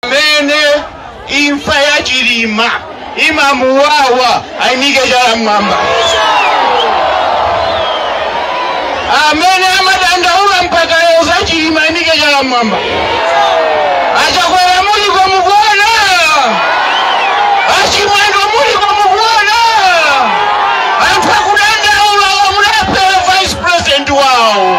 amene imfa ya chilima imamuwawa ayimike chala mmwamba amene amadandaula mpaka lero za chilima ayimike chala mmwamba achakwera muliko mukuona achimwendo muliko mukuona anthu akudandaula omwe anapha vice president wawo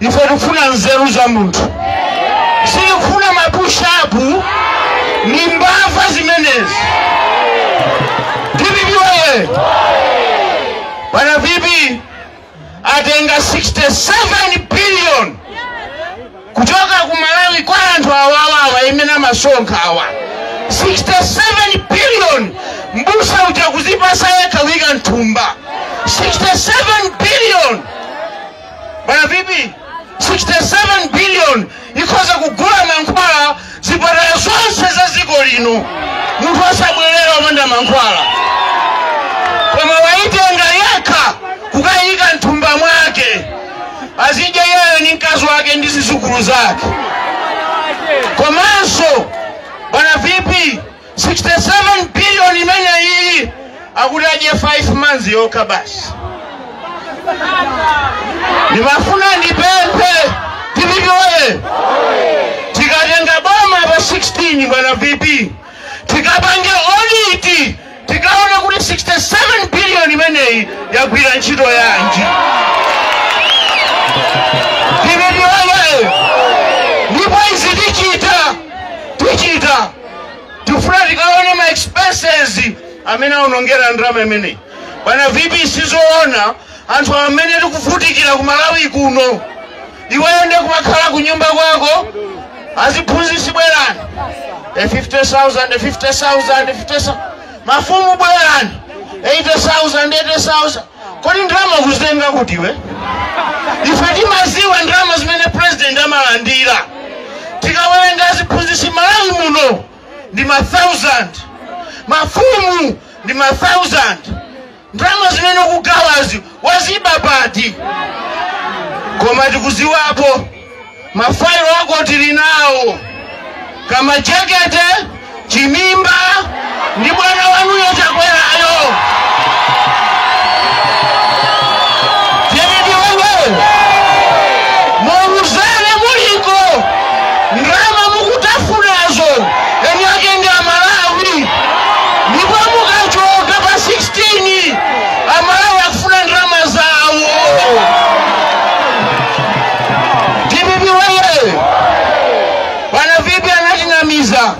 ife tikufuna nzeru za munthu sitikufuna mapushapu ni mbava zimenezi dpp oye bwana vp atenga 67 billion kuchoka ku malawi kwa anthu awawawa imene amasonkha awa 67 billion mbusa uja kuzipasa yekha kuyika mthumba 67 billion bwana vp 67 billion ikhoza kugula mankhwala zipatala zonse za dziko lino munthu osabwerera opanda mankhwala koma waitenga yekha kukayika mthumba mwake azidya iyeyo ni mkazi wake ndi zizukulu zake komanso bwana vp 67 billion imeneyi akuti adye 5 months yokha basi ndimafuna ndipemphe dpp oye tikatenga boma pa 16 bwana vp tikapange audit tikaone kuti 67 billion imeneyi yagwira ntchito yanji tifuna tikaone ma expenses amene aonongera ndalama imeneyi bwana vp sizoona anthu amene tikuvutikira ku malawi kuno iweyo nde kumakhala ku nyumba kwako aziphunzitsi bwerani e 50000 e 50000 e 50000 mafumu bwerani 80000 80000 kodi ndalama ukuzitenga kuti iwe ife timaziwa ndalama zimene president amalandira tikawerenga aziphunzitsi malawi muno ndi ma 1000 mafumu ndi ma 1000 ndalama zimene ukugawazi waziba pati koma tikuziwapo mafailo ako tili nawo kamchekete chimimba ndi bwana wanuyo chakwerayo penedi uwone muuzane muliko ndalama mukutafunazo eni ake ndi amalawi ndipo mukachoka pa 16 amalawi akufuna ndalama zawo Dpp woyee, bwana vipi anatinamiza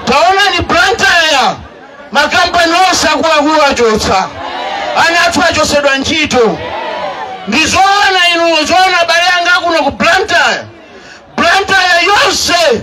taonani Blantyre makampani onse akuluakulu achotsa ana athu achotsedwa ntchito ndi zoona inu zoona abale anga akuno ku Blantyre Blantyre yonse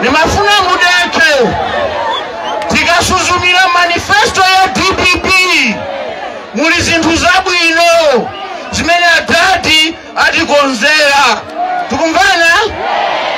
ndimafuna mudekhe tikasuzumire manifesto ya dpp muli zinthu zabwino zimene adadi atikonzera tikumvana